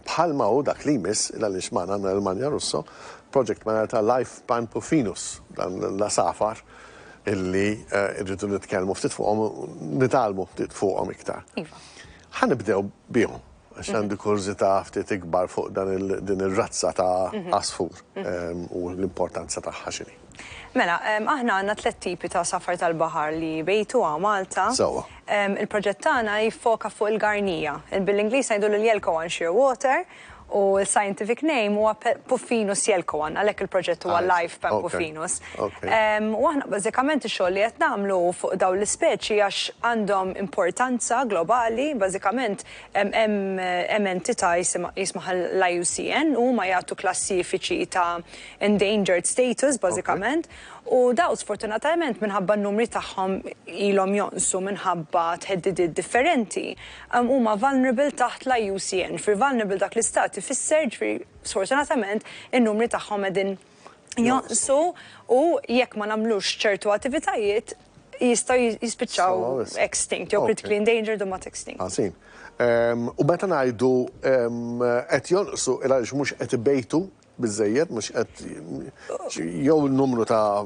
bħal ma hu dak li jmiss, il għaliex magħna għandna lil Manja Russo, project manager ta' Life Pantofinus, dan l-għasafar illi rridu nitkellmu ftit fuqhom, nitgħallmu ftit fuqhom iktar. Iva. Ħa nibdew bihom, għax għandi kurżità ftit ikbar fuq dan din ir-razza ta' għasfur u l-importanza tagħha x'inhi. Mela, aħna għandna tliet tipi ta' safar tal-baħar li jbejtu hawn Malta. Sewwa. Il-proġett tagħna jiffoka fuq il-garnija. Bil-Ingliż ngħidulu l-yelkowan shearwater u l-scientific name huwa Puffinus yelkowan, għalhekk il-proġett huwa Life Pempuffinus. U aħna bażikament ix-xogħol li qed nagħmlu hu fuq dawn l-ispeċi għax għandhom importanza globali, bażikament hemm entità jismaha l-IUCN u huma jagħtu klassifiċi ta' endangered status bażikament, u dawn sfortunatajment minħabba n-numri tagħhom ilhom jonqsu minħabba theddidiet differenti, huma vulnerable taħt l-IUCN. Fi vulnerable dak l-istat ifisser, jiġifieri sfortunatament, in-numri tagħhom qegħdin jonqsu u jekk ma nagħmlux ċertu attivitajiet jistgħu jispiċċaw extinct, jew critically endangered u mbagħad extinct. Ħażin. U meta ngħidu qed jonqsu, il-għaliex mhux qed ibejtu biżżejjed, mhux qed jew numru ta'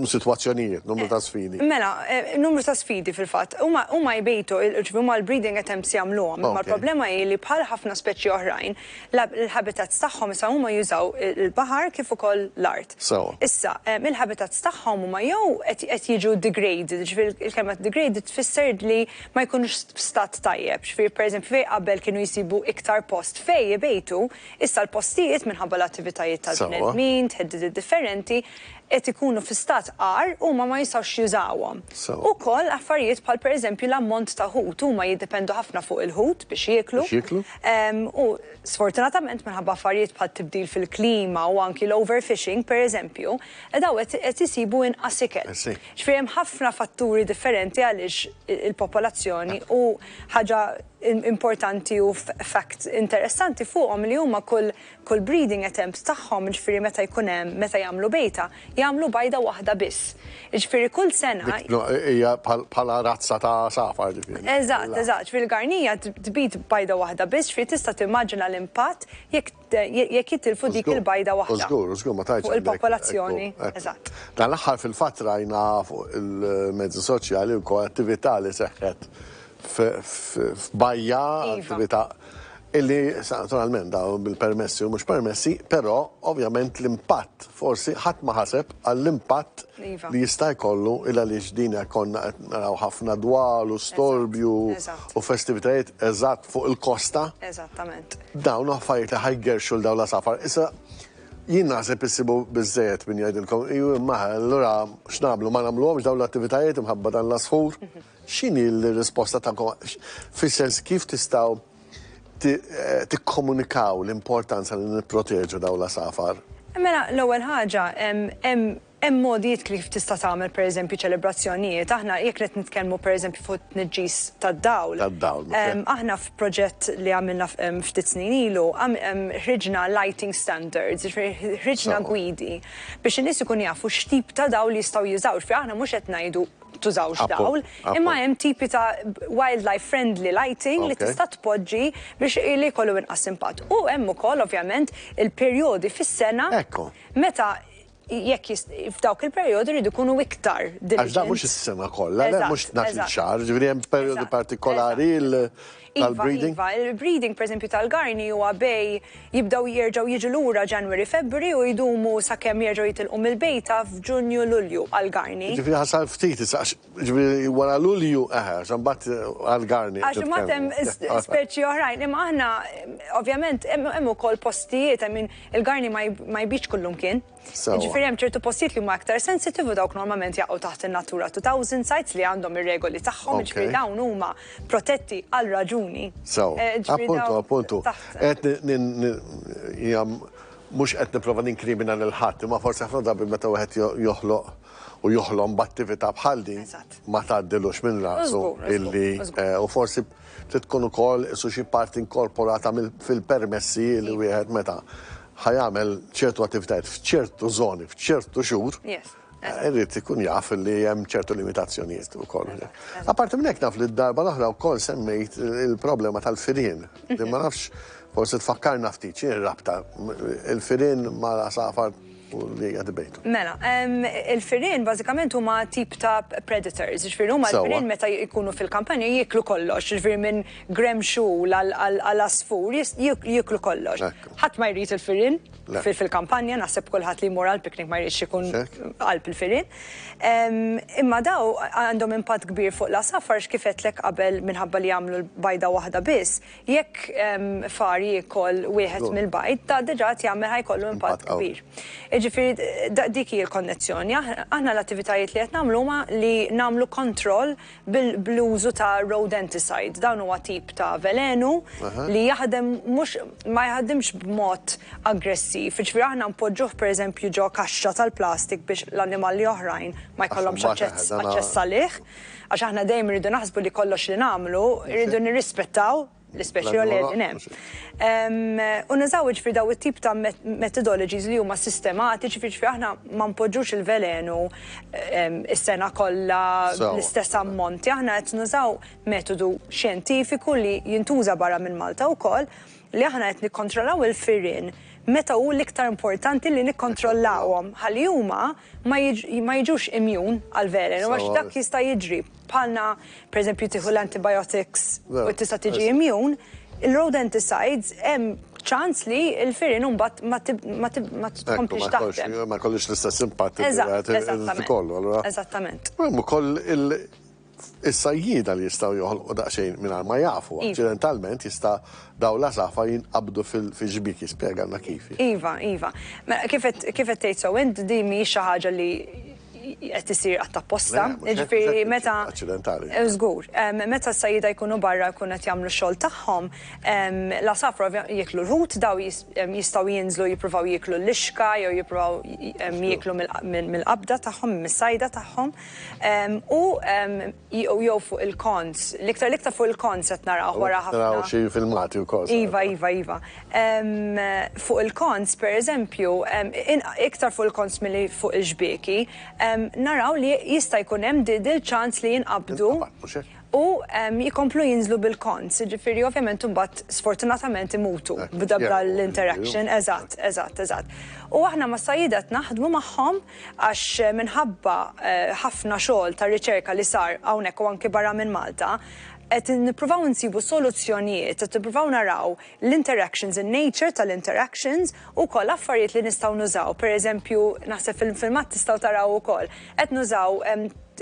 sitwazzjonijiet, numru ta' sfidi. Mela, numru ta' sfidi fil-fatt. Huma huma jbejtu, ġifieri huma l-breeding attempts jagħmluhom, imma l-problema hi li bħal ħafna speċi oħrajn, l-habitats tagħhom issa huma jużaw il-baħar kif ukoll l-art. Sewwa. Issa, il-habitats tagħhom huma jew qed qed jiġu degraded, jiġifieri il-kelma degraded tfisser li ma jkunux f'stat tajjeb, jiġifieri pereżempju fejn qabel kienu jsibu iktar post fejn ibejtu, Issa l-postijiet, minħabba l-attivitajiet tal-bnedmin, theddidiet differenti, qed ikunu fi stat agħar u huma ma jistgħux jużawhom. Ukoll affarijiet bħal pereżempju l-ammont ta' ħut, huma jiddependu ħafna fuq il-ħut biex jieklu u sfortunatament minħabba affarijiet bħat-tibdil fil-klima u anki l-overfishing pereżempju, dawn qed isibu inqas ikel. Ġifieri hemm ħafna fatturi differenti għaliex il-popolazzjoni u ħaġa importanti u fact interessanti fuqhom li huma kull kull breeding attempt tagħhom, jiġifieri meta jkun hemm, meta jagħmlu bejta, jagħmlu bajda waħda biss. Jiġifieri kull sena. Hija bħala razza ta' għasafar ġifieri. Eżatt, eżatt. Jiġifieri l-garnija tbid bajda waħda biss, jiġifieri tista' timmaġina l-impatt jekk jekk jittilfu dik il-bajda waħda fuq il-popolazzjoni. Eżatt. Dan l-aħħar fil-fatt rajna fuq il-mezzi soċjali wkoll attività li seħħet f'bajja, attività illi naturalment dawn bil-permessi u mhux permessi, però ovvjament l-impatt forsi ħadd ma ħaseb għall-impatt li jista' jkollu il għaliex din konna qed naraw ħafna dwal u storbju u festivitajiet eżatt fuq il-kosta. Eżattament. Dawn hu affarijiet li ħa jgerrxu 'l dawn l-għasafar. Issa, jien naħseb issibu biżżejjed min jgħidilkom, iju imma allura x'nagħmlu, ma nagħmluhomx dawn l-attivitajiet imħabba dan l-għasfur? X'inhi l-risposta tagħkom? Fis-sens kif tistgħu tikkomunikaw l-importanza li nipproteġu dawn l-għasafar? Mela, l-ewwel ħaġa, hemm Hemm mogħdijiet kif tista' tagħmel pereżempju ċelebrazzjonijiet. Aħna jekk qed nitkellmu pereżempju fuq it-tniġġis tad-dawl. Tad-dawl, ok. Aħna f'proġett li għamilna ftit snin ilu, ħriġna lighting standards, jiġifieri ħriġna gwidi biex in-nies ikunu jafu x'tip ta' dawl jistgħu jużaw. Jiġifieri aħna mhux qed ngħidu tużawx dawl, imma hemm tipi ta' wildlife friendly lighting li tista' tpoġġi biex li jkollu inqas impatt. U hemm ukoll ovvjament il-perjodi fis-sena meta Jekk f'dawk il-perjodi jridu jkunu iktar diligent. Għax dan mhux is-sena kollha, le mhux tnax il xahar, ġifieri hemm perjodi partikolari tal-breeding. Iva, iva, il-breeding pereżempju tal-garni huwa bej jibdew jerġgħu jiġu lura January, February u jdumu sakemm jerġgħu jitilqu mill-bejta f'Ġunju, Lulju għall-garni. Ġifieri ħasar ftit issa għax Ġifieri wara Lulju, eħe, għax imbagħad għal Garni. Għax imbagħad hemm speċi oħrajn, imma aħna ovvjament hemm ukoll postijiet, I mean, il-Garni ma jbidx kullumkien. Ġifieri hemm ċertu postijiet li huma aktar sensitiv u dawk normalment jaqgħu taħt in-Natura 2000 sites li għandhom ir-regoli tagħhom, ġifieri dawn huma protetti għal raġuni. Sew. Appuntu, appuntu. Mhux qed nipprova ninkrimina lil ħadd, imma forsi ħafna drabi meta wieħed joħloq u joħlom b'attività bħal din ma tgħaddilux minn rasu illi u forsi trid tkun ukoll isu xi parti inkorporata fil-permessi li wieħed meta ħajamel ċertu attivitajiet f'ċertu żoni, f'ċertu xhur, irrid ikun jaf li hemm ċertu limitazzjonijiet ukoll. Apparti minn hekk naf li d-darba l-oħra wkoll semmejt il-problema tal-firien. Ma nafx forsi tfakkarna ftit xi rabta il-firien ma' l-għasafar. u li hija debatable. Mela, il-firien bażikament huma tip ta' predators, jiġifieri huma l-firien meta jkunu fil-kampanja jieklu kollox, jiġifieri minn gremm xogħol għal għasfur jieklu kollox. Ħadd ma jrid il-firien fil-kampanja, naħseb kulħadd li jmur għal picnic ma jridx ikun qalb il-firien. Imma dawn għandhom impatt kbir fuq l-għasafar għax kif għedtlek qabel minħabba li jagħmlu bajda waħda biss, Jekk far jiekol wieħed mill-bajd, da diġà qed jagħmel ħa jkollu impatt kbir. Jiġifieri dik hi l-konnezzjoni. Aħna l-attivitajiet li qed nagħmlu huma li nagħmlu kontroll bl-użu ta' rodenticide. Dan huwa tip ta' velenu li jaħdem mhux ma jaħdimx b'mod aggressiv. Jiġifieri aħna npoġġuh pereżempju ġo kaxxa tal-plastik biex l-annimalli oħrajn ma jkollhomx aċċess aċċess għalih. Għax aħna dejjem irridu naħsbu li kollox li nagħmlu rridu nirrispettaw l-ispeċi li qegħdin hemm. U nużaw jiġifieri dawn it-tip ta' methodologies li huma sistematiċi, jiġifieri aħna ma npoġġux il-velenu s-sena kollha bl-istess ammonti, aħna qed nużaw metodu xjentifiku li jintuża barra minn Malta wkoll li aħna qed nikkontrollaw il-firien meta hu l-iktar importanti li nikkontrollawhom ħalli huma ma jiġux immune għall-velenu għax dak jista' jiġri. Bħalna pereżempju tieħu l-antibiotics u tista' tiġi immune, il-rodenticides hemm ċans li l-firien imbagħad ma tkomplix taħdem. Ma jkollhiex l-istess impatt li wieħed irid ikollu allura. Eżattament. Hemm ukoll il- Is-sajjieda li jistgħu joħolqu daqsxejn mingħajr ma jafu, aċċidentalment jista' dawn l-għasafar jinqabdu fil-xbiek, jispjegalna kif hi. Iva, iva. Mela, kif qed kif qed tgħid sew int, din mhijiex xi ħaġa li qed issir qatt apposta. Le, mhux hekk, eżatt, mhux hekk, aċċidentali. Jiġifieri meta, żgur, meta s-sajjieda jkunu barra jkunu qed jagħmlu x-xogħol tagħhom, l-għasafar ovvjament jieklu l-ħut, dawn jistgħu jinżlu jippruvaw jieklu l-lixka jew jippruvaw jieklu mill-qabda tagħhom, mis-sajda tagħhom. U jew fuq il-konz, l-iktar l-iktar fuq il-konz qed narawh wara ħafna. Naraw xi filmati wkoll. Iva, iva, iva. Fuq il-konz, pereżempju, iktar fuq il-konz milli fuq il-xbieki, naraw li jista' jkun hemm dil-ċans li jinqabdu u jkomplu jinżlu bil-konz. Jiġifieri ovvjament imbagħad sfortunatament imutu b'dabba l-interaction. Eżatt, eżatt, eżatt. U aħna mas-sajjieda qed naħdmu magħhom għax minħabba ħafna xogħol ta' riċerka li sar hawnhekk u anki barra minn Malta, qed nippruvaw insibu soluzzjonijiet, qed nippruvaw naraw l-interactions, in-nature tal-interactions u wkoll affarijiet li nistgħu nużaw. Per eżempju, naħseb fil-filmat tistgħu taraw ukoll, qed nużaw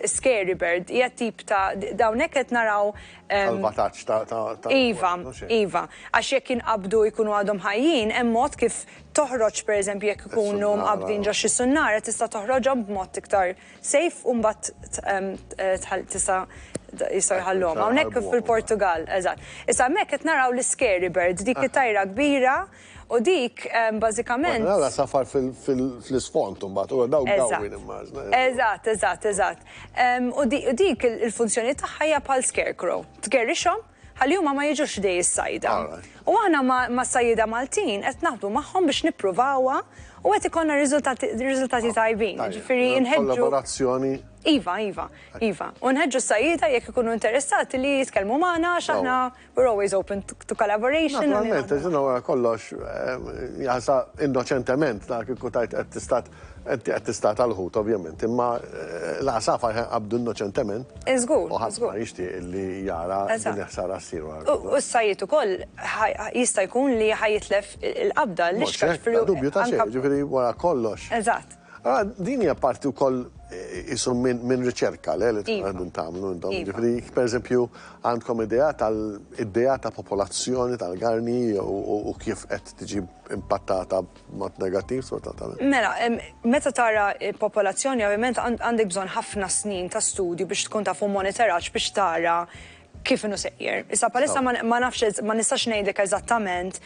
scary bird, hija tip ta' hawnhekk qed naraw, Salvataġġ ta' Iva, iva. Għax jekk jinqabdu jkunu għadhom ħajjin, hemm mod kif toħroġ pereżempju jekk ikunu mqabbdin ġo xi sunnara tista' toħroġhom b'mod iktar safe u mbagħad tista' jistgħu jħalluhom. Hawnhekk fil-Portugall, eżatt. Issa hemmhekk qed naraw l-iscary bird, dik it-tajra kbira u dik bażikament. Qed nara safar fl-isfond imbagħad u dawn dawwi nimmaġina. Eżatt, eżatt, eżatt. U dik il-funzjoni tagħha hija bħal scarecrow. Tgerrixhom ħalli huma ma jiġux ħdej is-sajda. U aħna mas-sajjieda Maltin qed naħdmu magħhom biex nippruvawha u qed ikollna riżultati tajbin. Ġifieri nħeġġu. Kollaborazzjoni. Iva, iva, iva. U nħeġġu s-sajjieda jekk ikunu interessati li jitkellmu magħna għax aħna we're always open to collaboration. Naturalment, ġinna wara kollox, eh, jasa innoċentement dak il-kutajt qed tistat Inti qed tistata l-ħut, ovvjament, imma l-għasafar ħa jqabbdu innoċentement. Żgur, żgur. U ħadd ma jixtieq li jara din il-ħsara ssir wara kollox. U s-sajjied ukoll jista' jkun li ħa jitlef il-qabda, l-ixkar fil-. Bla dubju ta' xejn, jiġifieri wara kollox. Eżatt. Allura din hija parti wkoll qisu minn riċerka, le, li tkunu qegħdin tagħmlu intom. Jiġifieri jekk pereżempju għandkom idea tal-idea ta' popolazzjoni tal-garni u kif qed tiġi impattata. b'mod negattiv sfortunatament. Mela, meta tara popolazzjoni ovvjament għandek bżonn ħafna snin ta' studju biex tkun taf u monitoraġġ biex tara kif inhu sejjer. Issa bħalissa ma nafx ma nistax ngħidlek eżattament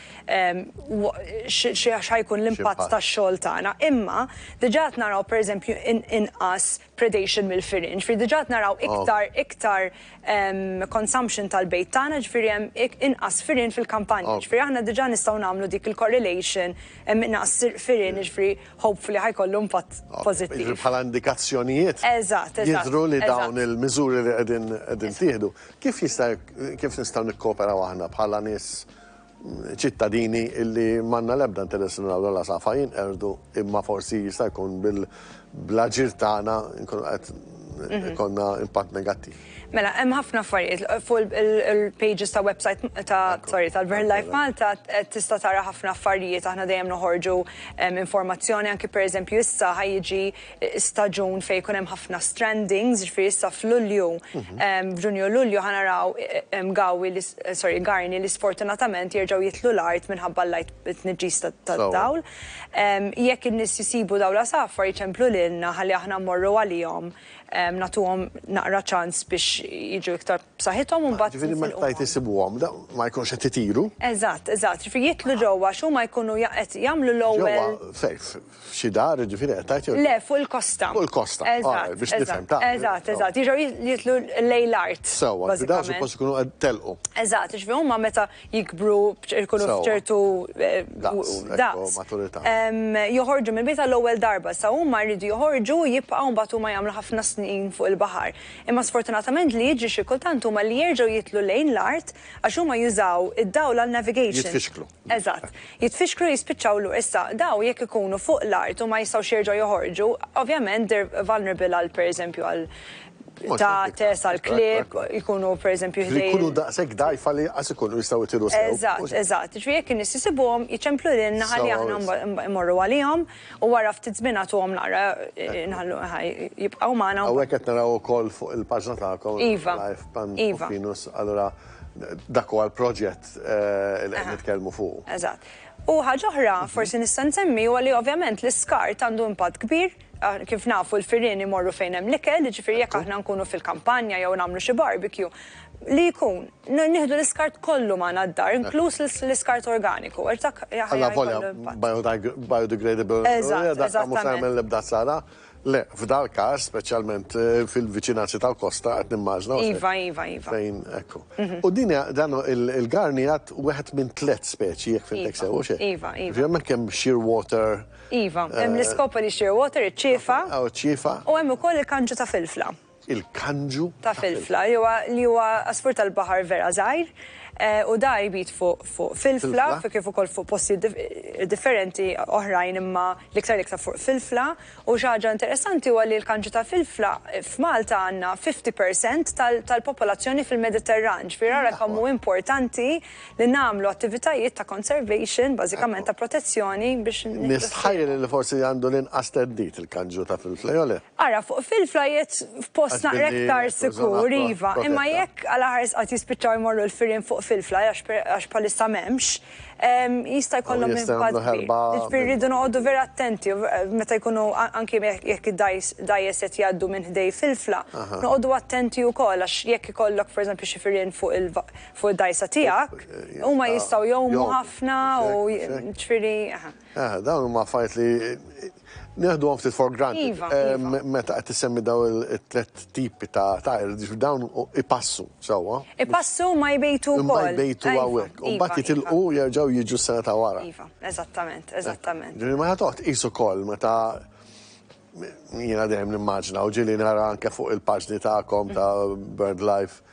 x'ħajkun l-impatt tax-xogħol tagħna, imma diġà qed naraw pereżempju inqas predation mill-firien. Ġifieri diġà qed naraw iktar iktar consumption tal-bejt tagħna, ġifieri hemm inqas firien fil-kampanja. Ġifieri aħna diġà nistgħu nagħmlu dik il-correlation, hemm inqas firien, jiġifieri hopefully ħa jkollu impatt pożittiv. Jiġifieri bħala indikazzjonijiet jidhru li dawn il-miżuri li qegħdin jittieħdu. Kif jista' kif nistgħu nikkooperaw aħna bħala nies ċittadini illi m'għandna l-ebda interess li naraw l-għasafar jinqerdu imma forsi jista' jkun bl-aġir tagħna nkunu qed mhm. konna impatt negattiv. Mela, hemm ħafna affarijiet fuq il-pages ta' website ta' sorry tal-Burn Life Malta tista' tara ħafna affarijiet aħna dejjem noħorġu informazzjoni anki pereżempju issa ħajjiġi staġun fejn jkun hemm ħafna strandings, jiġifieri issa f'Lulju, f'Ġunju u Lulju ħa naraw Gawi, sorry, Garni li sfortunatament jerġgħu jidħlu l-art minħabba l-light, it-tniġġis tad-dawl. Jekk in-nies isibu dawl għasafar jċemplu lilna ħalli aħna mmorru għalihom nagħtuhom naqra ċans biex jiġu iktar b'saħħithom u mbagħad. Jiġifieri meta tgħid isibuhom, ma jkunx qed itiru? Eżatt, eżatt. Jiġifieri jidħlu ġewwa għax huma jkunu qed jagħmlu l-ewwel. Ġewwa safe. F'xi dar, jiġifieri qed tgħid jew? Le, fuq il-kosta. Fuq il-kosta. Eżatt, biex nifhem. Eżatt, eżatt. Jiġu jitlu lejn l-art. Sewwa, xi dar suppost ikunu qed telqu. Eżatt, jiġifieri huma meta jikbru jkunu f'ċertu daqs. Maturità. Joħorġu mill-bit għall-ewwel darba. Sa huma jridu joħorġu u jibqgħu mbagħad huma jagħmlu ħafna snin fuq il-baħar. Imma sfortunatament li jiġri xi kultant huma li jerġgħu jitlu lejn l-art għax huma jużaw id-dawl għall-navigation. Jitfixklu. Eżatt. Jitfixklu jispiċċaw l Issa, dawn jekk ikunu fuq l-art u ma jistgħux jerġgħu joħorġu, ovvjament they're vulnerable għal pereżempju għal ta' test għal klieb, jkunu pereżempju ħdejn. Li jkunu daqshekk dgħajfa li lanqas ikunu jistgħu jtiru sew. Eżatt, eżatt. Jiġifieri jekk in-nies isibuhom, jiċemplu lilna ħalli aħna mmorru għalihom u wara ftit żmien nagħtuhom naqra nħallu jibqgħu magħna. Hawnhekk qed naraw ukoll fuq il-paġna tagħkom, Life Pan Rufinus, allura Dak huwa l-proġett li qed nitkellmu fuqu. Eżatt. U ħaġa oħra forsi nista' nsemmi huwa li ovvjament l-iskart għandu impatt kbir, kif nafu l-firien imorru fejn hemm l-ikel, jiġifieri jekk aħna nkunu fil-kampanja jew nagħmlu xi barbecue, li jkun, nieħdu l-iskart kollu magħna d-dar, inkluż l-iskart organiku, għax dak jkollu impatt. Alla volja biodegradable, dak mhux se jagħmel l-ebda ħsara. Le, f'dal-każ, speċjalment fil-viċinanzi tal-kosta, qed nimmaġna, u Iva, iva, iva. fejn, ekku. U din hija, dan hu, il-garn jgħadd wieħed minn tliet speċi, jekk fhimtek sew, u x'e? Iva, iva. Ġifieri hemmhekk hemm shearwater. Iva, hemm l-iscopoli shearwater, iċ-ċiefa. Aw, iċ-ċiefa. U hemm ukoll il-kanġu ta' filfla. il-kanġu ta' filfla jew li huwa għasfur tal-baħar vera żgħir u da jbid fuq fuq filfla kif ukoll fuq postijiet differenti oħrajn imma l-iktar l-iktar fuq filfla u xi ħaġa interessanti huwa li l-kanġu ta' filfla f'Malta għandna 50 percent tal-popolazzjoni fil-Mediterran ġifieri ara kemm hu importanti li nagħmlu attivitajiet ta' conservation bażikament ta' protezzjoni biex Nistħajjel li forsi għandu l-inqas theddid il-kanġu ta' filfla jew le? Ara, fuq fil-flajjet f'post naqra iktar sikur, iva, imma jekk għala ħares qatt jispiċċaw imorru l-firien fuq fil-fly għax bħalissa m'hemmx, jista' jkollhom impatt kbir. Jiġifieri rridu noqogħdu vera attenti meta jkunu anki jekk id-dgħajjes qed jgħaddu minn ħdej fil-fla, noqogħdu attenti wkoll għax jekk ikollok per eżempju xi firien fuq id-dgħajsa tiegħek, huma jistgħu jgħumu ħafna u jiġifieri. Eħe, dawn huma affarijiet li neħduhom ftit for granted. Meta qed issemmi daw it-tliet tipi ta' tajr, dawn ipassu sewwa. Ipassu imma jbejtu wkoll. Imma jbejtu hawnhekk. U mbagħad jitilqu jerġgħu jiġu s-sena ta' wara. Iva, eżattament, eżattament. Ġifieri meta toqgħod tqis ukoll meta Jiena dejjem nimmaġina u ġieli nara anke fuq il-paġni tagħkom ta' BirdLife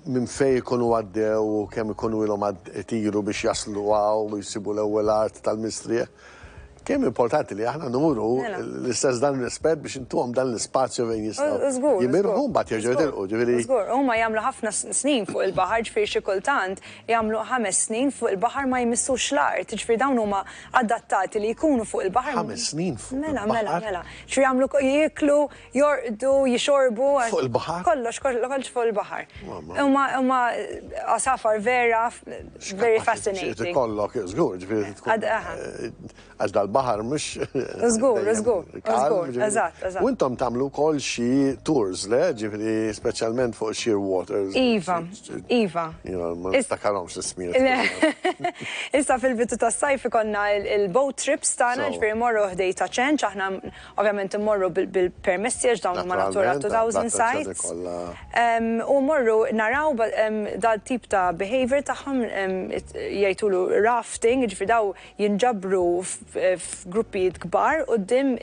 minn fejn ikunu għaddew u kemm ikunu ilhom itiru biex jaslu hawn u jsibu l-ewwel art tal-mistrieħ. Kemm importanti li aħna nuru l-istess dan ir-rispett biex intuhom dan l-ispazju fejn jistgħu jimirħu u mbagħad jerġgħu jitilqu, ġifieri. Żgur, huma jagħmlu ħafna snin fuq il-baħar, ġifieri xi kultant jagħmlu ħames snin fuq il-baħar ma jmissux l-art, jiġifieri dawn huma. adattati li jkunu fuq il-baħar. Ħames snin fuq il-baħar. Mela, mela, mela. Xi jagħmlu, jieklu, jorqdu, jixorbu. Fuq il-baħar? Kollox, kollox fuq il-baħar. Huma, huma għasafar vera, very fascinating. Xi tkollok, żgur, ġifieri tkun. Għax dal-baħar mhux. Żgur, żgur, żgur, eżatt, eżatt. U intom tagħmlu wkoll xi tours, le? Ġifieri speċjalment fuq sheer waters. Iva, Iva. Ma niftakarhomx l-ismijiet. Issa fil-bidu tas-sajf ikonna il-boat trips tagħna ġifieri morru ħdej ta' ċenċ aħna ovvjament immorru bil-permessi għax dawn huma natura 2000 sites. U mmorru naraw dal-tip ta' behavior tagħhom jgħidulu rafting, ġifieri dawn jinġabru f'gruppijiet kbar quddiem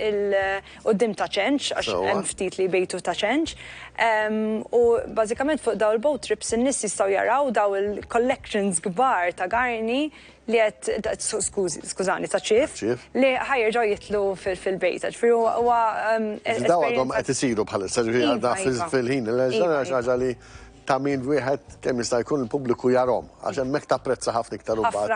quddiem ta' ċenċ, għax hemm ftit li jbejtu ta' ċenċ. U bażikament fuq dawn il-boat trips in-nies jistgħu jaraw dawn il-collections kbar ta' garni li qed, skużi, skużani, ta' ċief, li ħa jerġgħu jidħlu fil-bejta. Ġifieri huwa esperjenza. Dawn għadhom qed isiru bħalissa, ġifieri għadna fil-ħin il-għeġ, dan hija xi ħaġa li ta' min wieħed kemm jista' jkun il-pubbliku jarahom, għax hemmhekk tapprezza ħafna iktar imbagħad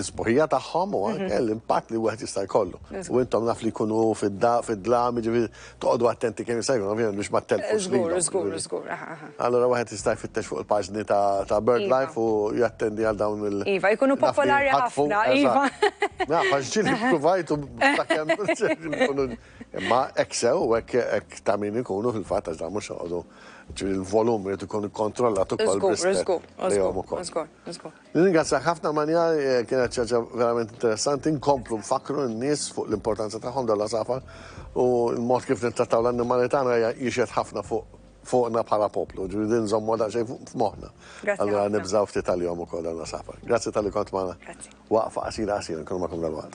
is-sbuħija tagħhom u anke l-impatt li wieħed jista' jkollu. U intom naf li jkunu fid-dlam, jiġifieri toqgħodu attenti kemm jista' jkun ovvjament biex ma ttelfux lilhom. Żgur, żgur, żgur. Allura wieħed jista' jfittex fuq il-paġni ta' BirdLife u jattendi għal dawn il-. Iva, jkunu popolari ħafna, iva. Naf, għax ġieli ppruvajt u sakemm. Imma hekk sew u hekk ta' min ikunu fil-fatt għax dawn mhux joqogħdu. Ġifieri l-volum irid ikun ikkontrollat ukoll b'rispett lejhom ukoll. Żgur, żgur, żgur, żgur. Nirringrazzjak ħafna Manja, kienet xi ħaġa verament interessanti, nkomplu nfakkru n-nies fuq l-importanza tagħhom dawn l-għasafar u l-mod kif nittrattaw l-annimali tagħna jixhed ħafna fuqna bħala poplu, ġifieri din nżommuha daqsxejn f'moħħna. Grazzi ħafna. Allura nibżgħu ftit għalihom ukoll dawn l-għasafar. Grazzi talli kont magħna. Grazzi. Waqfa qasira qasira nkunu magħkom dalwaqt.